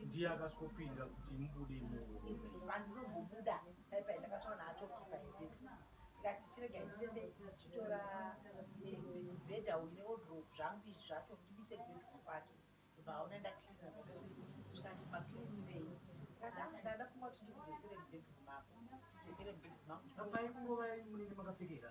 ndiye akasvokopinda kuti mubude imovandinombobuda dai pai ndakatoona atokipa yebhedhu ndikati chirega nditese ndichitora eh, bhedha uyu neodrop zvangu izvi zvacho ndibise kubedhuru kwake vaona ndaklina zvakese zvikati maklinirei ndati ah, ndaa ndafunga kuti ndikudosere mubedhuru mako tidzokere mubedhuru mako apai kungova munenge makapfekera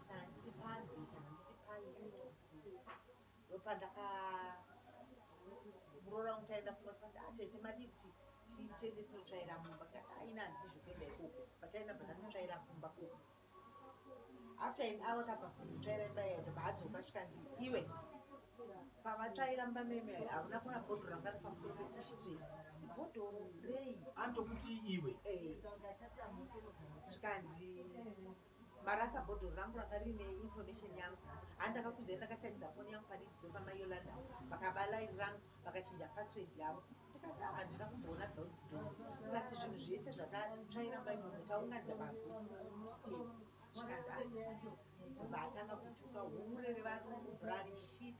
Handiti panzi, handiti pai ino. Ndopandaka muroora wangu taenda kumba tikati atete ah, madii kuti tiende tinotsvaira mumba tikati aina ah, handidi zvekuenda ikoko pataenda bva tanotsvaira kumba koko after an hour tabva kunotsvaira imba iya ndobva adzoka chikanzi iwe pavatsvaira mumba meme hauna kuna bhodho ranga ri pamusoro pekuchitri bhodho rei anotokuti iwe eh. zvikanzi Marasa bhodhoro rangu ranga rine information yangu handi ndakakudzai ndakachanisa foni yangu pane chido pama Yolanda vakaba line rangu vakachinja password yavo ndikati ah, handina kumboona dot do plus zvinhu zvese zvatatsvairamba imomo taunganidza magusi zvikanzi ah, vatanga kutuka humurere vanhu kubvurani shit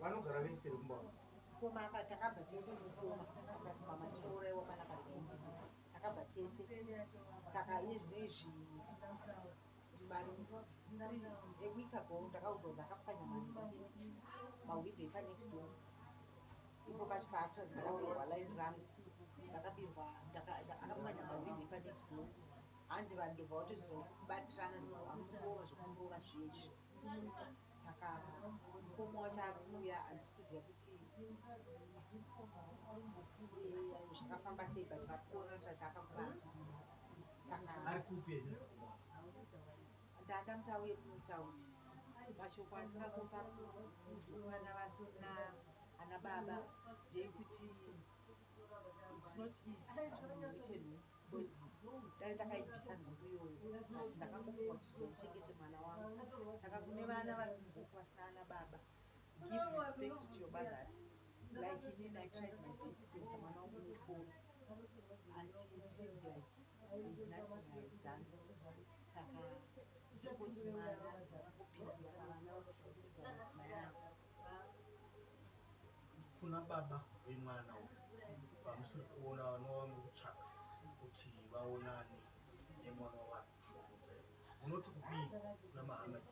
vanogara vese vekumba mukoma akati akabva tese mukoma akati mama tirouraiwa mana kariende akabva tese saka izvezvi mari eweek ago ndakaudzwa kuti akapwanya mari mahwidho epanext door ipo pachi paakta ndakabirwa line rangu ndakabirwa akapwanya mahwidho epanext door hanzi vanhu ndobva vatozobatirana ndovakurova zvekurova zviezvi saka mukoma wacho ari kuuya handisi kuziva kuti zvakafamba sei but vari kuona kuti ati akakuvanzwa saka ndada muti auye kunotaundi mashoko andina kupa kutukana vasina ana baba ndeyekuti it's not easy kuti munhu uite nhumbu because dai ndakaibvisa nhumbu iyoyo but ndakangofunga kuti ndichengete mwana wangu saka kune vana vari kumboku vasina ana baba give respect to your mothers like inin i tried my best kuendesa mwana wangu muchikoro asi it seems like is nothing i have done saka zvokoti mwana akupindira pavana vakushungurudza madzimai avo Kuna baba vemwana uyu vamusiri kuona vanova mukutsvaka kuti vaonane nemwana wavari kushungurudza ivo. Munoti kudii kuna Muhammad?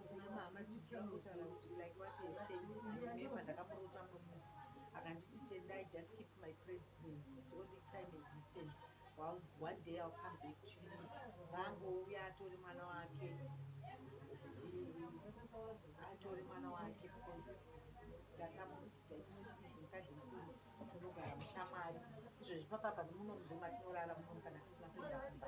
Kuna Muhammad ndinotaura kuti like what you have said, remember ndakamurota mumwe musi akanditi Tendai just keep my pregnancy, it's only time and distance. Well, one day I'll come back to you. Vangu uya atore mwana wake. Atore mwana wake because ndatamudzika it's not easy mukadzi mukuru tunogara mushamwari izvezvi papapa nemuno mudhuma tinorara muno kana tisina kuenda kumba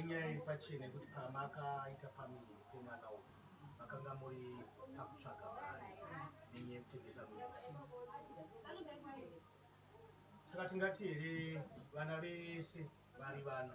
Inyaya iri pachena yekuti pamakaita family pemwana uyu makanga muri pakutsvaga mari nenyaya yekutengesa muviri saka tingati here vana vese vari vana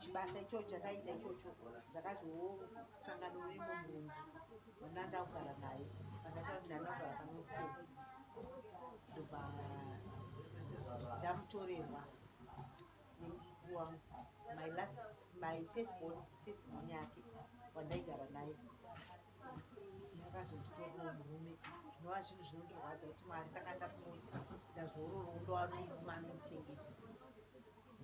chibasa ichocho chataita ichocho ndakazosangana neimwe munhu wandanga kugara naye akataura kuti ndanga kugara pane mukadzi ndobva ndamutorerwa nemuzukuru wangu my last my first born first born yake wandaigara naye ndakazonditorwa murume zvinova zvinhu zvinondirwadza kuti mwari ndakanda kunoti ndazororo ndowanourume anomuchengeta